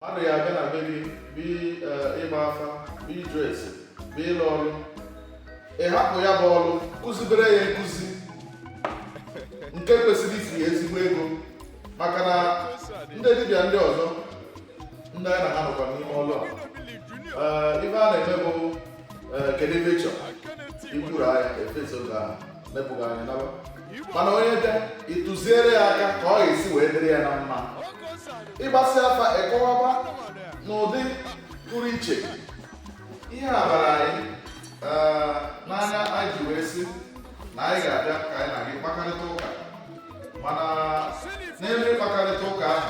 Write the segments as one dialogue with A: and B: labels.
A: mmadụ ya abịa na be gị bụ eh, ịgba afa bụ ịjụ ese bụ ịlụ ọrụ ị hapụ ya bụ ọrụ kụzibere ya nkụzi nke kwesịrị ifu ya ezigbo ego maka na ndị dibịa ndị ọzọ ndị anyị na ha nọkwa n'ime ọrụ a eh, ife a na-eme bụ eh, kedu ebe ị chọrọ ikwuru anya efeso gị ahụ mepụga anyị naba mana onye bịa ị tụziere ya aka ka ọ ga-esi wee dịrị ya na mma ị gbasịa afa ị kọwaba n'ụdị pụrụ iche ihe a bara anyị eh, n'anya anyị ji wee sị na anyị ga-abịa ka anyị na gị kpakarịta ụka mana n'ebe ịkpakarịta ụka ahụ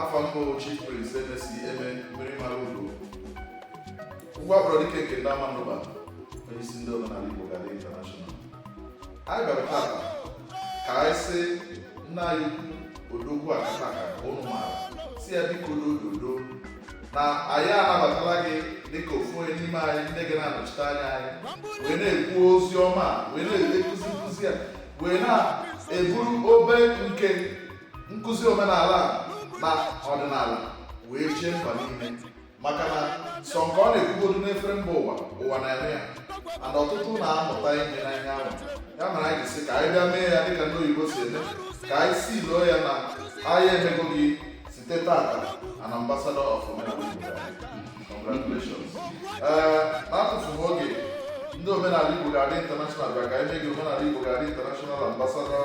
A: afa m bụ Chief Prince Emesi Eme mmiri mara ugo ụgwọ akpọrọ dike nke ndị Amandugba onye isi ndị omenala Igbo ga-adị intanashọnal anyị bịara tata ka anyị sị nna anyị ukwu odogwu akataka ụnụ maara sị ya biko n'ododo na anyị anabatala gị dịka ofu onye n'ime anyị ndị ga na-anọchite anya anyị wee na-ekwu ozi ọma wee na-ekụzi nkụzi a wee na-eburu obe nke nkụzi omenala na ọdịnala wee jee mba niile maka na sọ nke ọ na-ekwugodu n'efere mba ụwa ụwa na-eme ya mana ọtụtụ na-amụta ihe na ihe ahụ ya mere anyị sị ka anyị bịa mee ya dịka ndị oyibo si eme ka anyị si loo ya na anyị emego gị site tata an ambassador of omenala congratulations ee na-atụfughị oge ndị omenala igbo ga-adị international bịa ka anyị mee gị omenala igbo ga-adị international ambassador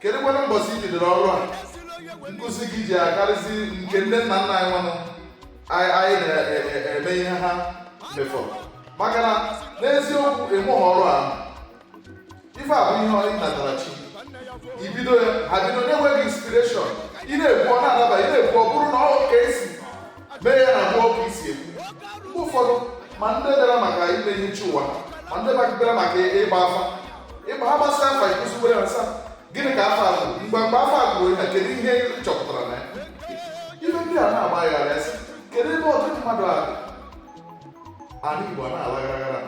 A: kedu kwanụ mbọsị i bidoro ọrụ a nkụzi gị ji akarịzi nke ndị nna nna anyị nwanụ anyị anyị na-eme ihe ha mefọ maka na n'eziokwu ị mụghị ọrụ a ife a bụ ihe ọ natara chi i bido ya ha bido na-enweghị inspireshọn ị na-ekwu ọ na-adaba ị na-ekwu ọ bụrụ na ọ ka esi mee ya na-abụ ọ ka i si ekwu mgbe ụfọdụ ma ndị bịara maka ime ihe chi ụwa ma ndị bịara maka ịgba afa ịgba ha gbasara afa ịkụzigbo ya nsa gịnị ka afa kwuru mgbe mgbe afa kwuru ya kedu ihe chọpụtara na ya ife ndị a na-agbagharị a sị kedu ebe ọtụtụ mmadụ n'ala igbo a na-alagharaghara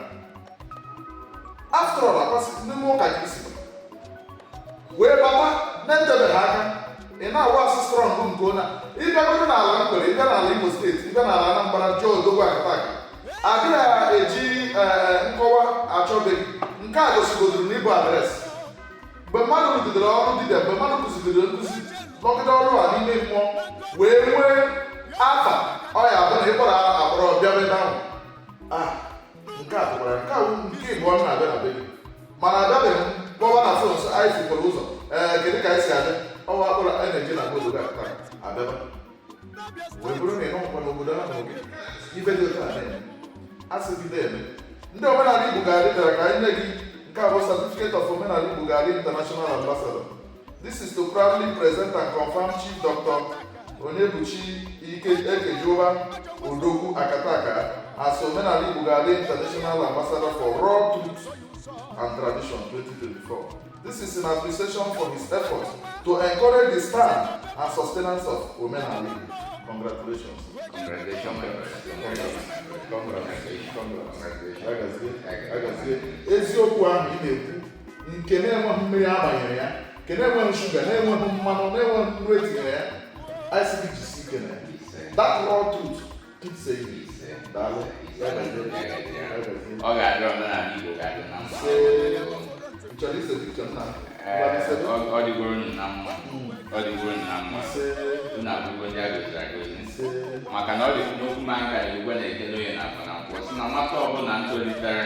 A: after all akwasị ndị mmụọ ụka ka i si wee baba na-etebeghị aka ị na-awax strong nke ọma ị bịagodo n'ala nkwere ị bịa n'ala imo steeti ị bịa n'ala anambra jụọ odogwu akataka adịghị eji eh, nkọwa achọ be gị nke a gosigodoro na ị bụ adreesị mgbe mmadụ rụgidere ọrụ dibịa mgbe mmadụ kụzidere nkụzi nọgide ọrụ a n'ime mmụọ wee nwee afa ọ ya bụ na ị kpọrọ a kpọrọ bịa ebe ahụ ah, nke a tụkwara nke a nke ịbụọ m na-abịa na be gị mana abịabeghị m kpọwa na fon so anyị fukwara ụzọ ee eh, kedu ka anyị si abịa ọwa akpọrọ energy na obodo a abịaba wee bụrụ na ịnọkwa n'obodo ahụ gị ibe dị otu a na-eme asị gị na-eme ndị omenala Igbo ga-adị bịara ka anyị nye gị nke a bụ certificate of omenala Igbo ga-adị international ambassador this is to proudly present and confirm chief doctor Onyebuchi Ekejiuba Odogwu Akataka as omenala Igbo ga-adị international ambassador for raw truth and tradition 2024 This is in appreciation for his effort to encourage the stand and sustenance of Omenala Igbo. Congratulations. Congratulations. Congratulations. Congratulations. Agazie. Eziokwu ahụ ị na-ekwu nke na-enweghị mmiri agbanyere ya nke na-enweghị shuga na-enweghị mmanụ na-enweghị nnu etinyere ya anyị sị gị jisi ike na ya. That raw truth
B: ọ ga-adị omenala Igbo
A: ga-adị na mma
B: ọ dịgoro unu na mma ọ dịgoro unu na mma unu abụgo ndị agọziri agọzi maka na ọ dị n'okwu ma nka igwe na eke n'oye na afọ na nkwọ sị na nwata ọbụla ntolitere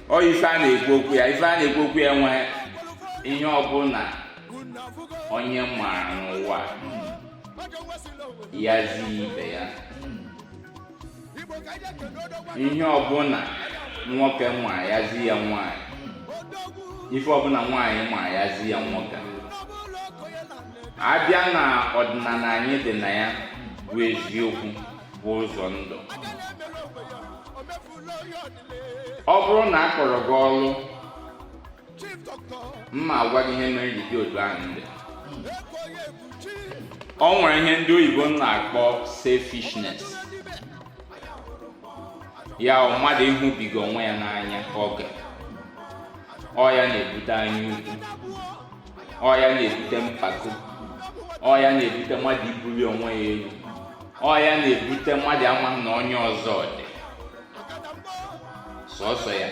B: ọ ife a na-ekwu okwu ya ife a na-ekwu okwu ya nwee ihe ọbụla onye mara n'ụwa ya zi ibe ya ihe ọbụla nwoke ma ya zi ya nwanyị ife ọbụla nwaanyị ma ya zi ya nwoke abịa na ọdịnala anyị dị na ya bụ eziokwu bụ ụzọ ndụ ọ bụrụ na a kpọrọ gị ọrụ m ga-agwa gị ihe mere m ji dị otu ahụ m dị o nwere ihe ndị oyibo na-akpọ selfishness ya bụ mmadụ ịhụbiga onwe ya n'anya oke ọ ya na-ebute anya ukwu ọ ya na-ebute mpako ọ ya na-ebute mmadụ ibuli onwe ya elu ọ ya na-ebute mmadụ amaghị na onye ọzọ dị sọsọ ya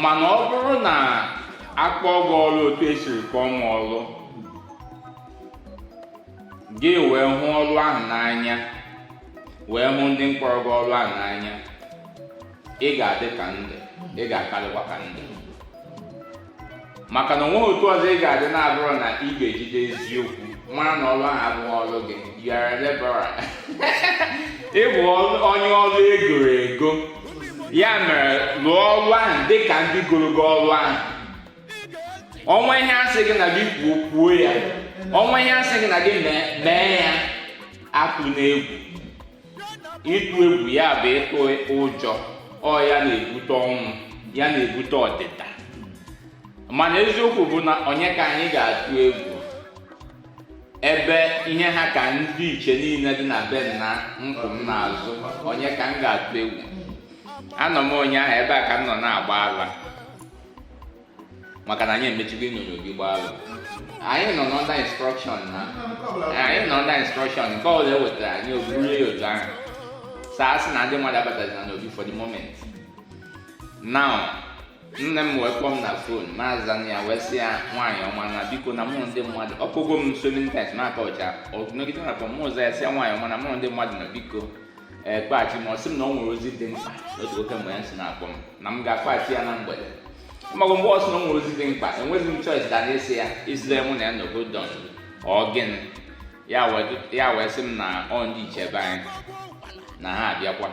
B: mana ọ bụrụ na akpọ gị ọrụ otu esiri kpọọ m ọrụ gị wee hụ ọrụ ahụ n'anya wee hụ ndị mkpọrọ gị ọrụ ahụ n'anya ị ga-adị ka m dị ị ga-akarịkwa ka m dị maka na onweghị otu ọzọ ị ga-adị na-abụrụ na ị ga-ejide eziokwu mara na ọrụ ahụ abụghị ọrụ gị yara lebara ị bụ onye ọrụ egoro ego ya mere lụọ ọrụ ahụ dị ka ndị goro gị ọrụ ahụ o nwee ihe asị gị na gị kwuo kwuo ya o nwee ihe asị gị na gị mee ya atụna egwu ịtụ egwu ya bụ ịtụ ụjọ ọ ya na-ebute ọnwụ ya na-ebute ọdịda mana eziokwu bụ na onye ka anyị ga-atụ egwu ebe ihe ha ka ndị ichie niile dị na be nna m kwụ m n'azụ onye ka m ga-atụ egwu anọ m ụnyaahụ ebe a ka m nọ na-agba ala maka na anyị emechigo ịnyonyo gị gbaalụ anyị nọ under instruction na anyị nọ under instruction nke ọbụla e wetara anyị oburu ya otu ahụ saa sị na ndị mmadụ abatazina n'obi for the moment now nne m wee kpọọ m na fon m azaa ya wee sị ya nwaanyị ọma na biko na mụ ndị mmadụ ọ kpọgo m so many times na-aka ọcha ọ nọgide na-akpọ m m zaa ya sị ya nwaanyị ọma na mụ ndị mmadụ na biko kpọghachi m ọ sị m na o nwere ozi dị mkpa otu oke mgbe ya si na-akpọ m na m ga-akpọchi ya na mgbede maka mgbe ọ sị na o nwere ozi dị mkpa enweghị m choice than ịsị ya isile mụ na ya nọgo don ọ gịnị ya wee sị m na ọ ndị ichie be anyị na ha abịakwa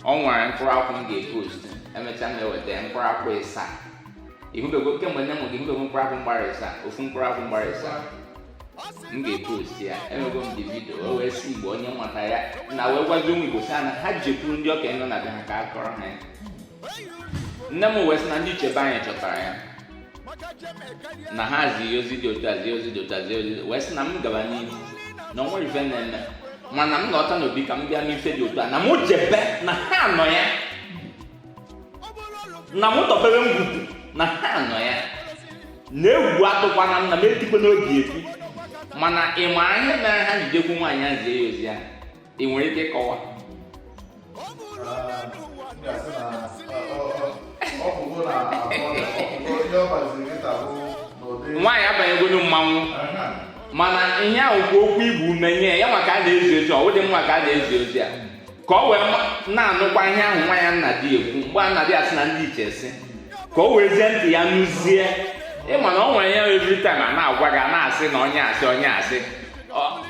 B: o nwere mkpụrụ akwụ m ga-epost emechaa m eweta ya mkpụrụ akwụ ịsa ị hụbego kemgbe nne mụ gị ị hụbego mkpụrụ akwụ gbara ịsa ofu mkpụrụ akwụ gbara ịsa m ga-epost ya enwego m the video wee sị igbo onye nwata ya na wee gwazi ụmụ igbo sị ha na ha jekwuru ndị okenye nọ na be ha ka a kọrọ ha ya nne m wee sị na ndị ichie be anyị chọtara ya na ha zi ozi dị otu a zi ozi dị otu a zi ozi wee sị na m gaba n'ihu na o nwere ife na-eme mana m lọta n'obi ka m bịa mee ife dị otu a na m jebe na ha nọ ya na m tọpere ngwugwu na ha nọ ya na egwu atụkwana m na m etikwa n'obi eti mana ị ma ihe mere ha ji jekwu nwaanyị a zie ya ozi ahụ i nwere ike ịkọwa nwaanyị abanyegonu mmanwụ mana ihe ahụ bụ okwu igbu ume nye ya maka a na-ezi ozi ọ dị mma ka a na-ezi ozi a ka o wee na-anụkwa ihe ahụ nwa ya na-adị ekwu mgbe a na-adị asị na ndị ichie sị ka o werezie ntị ya nụzie ị ma na o nwere ya every time a na-agwa gị a na-asị na onye a sị onye a sị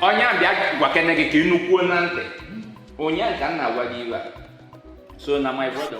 B: onye a bịa gwakene gị ka ị nụkwuo na ntị onye ka m na-agwa gị iwe a so na my brother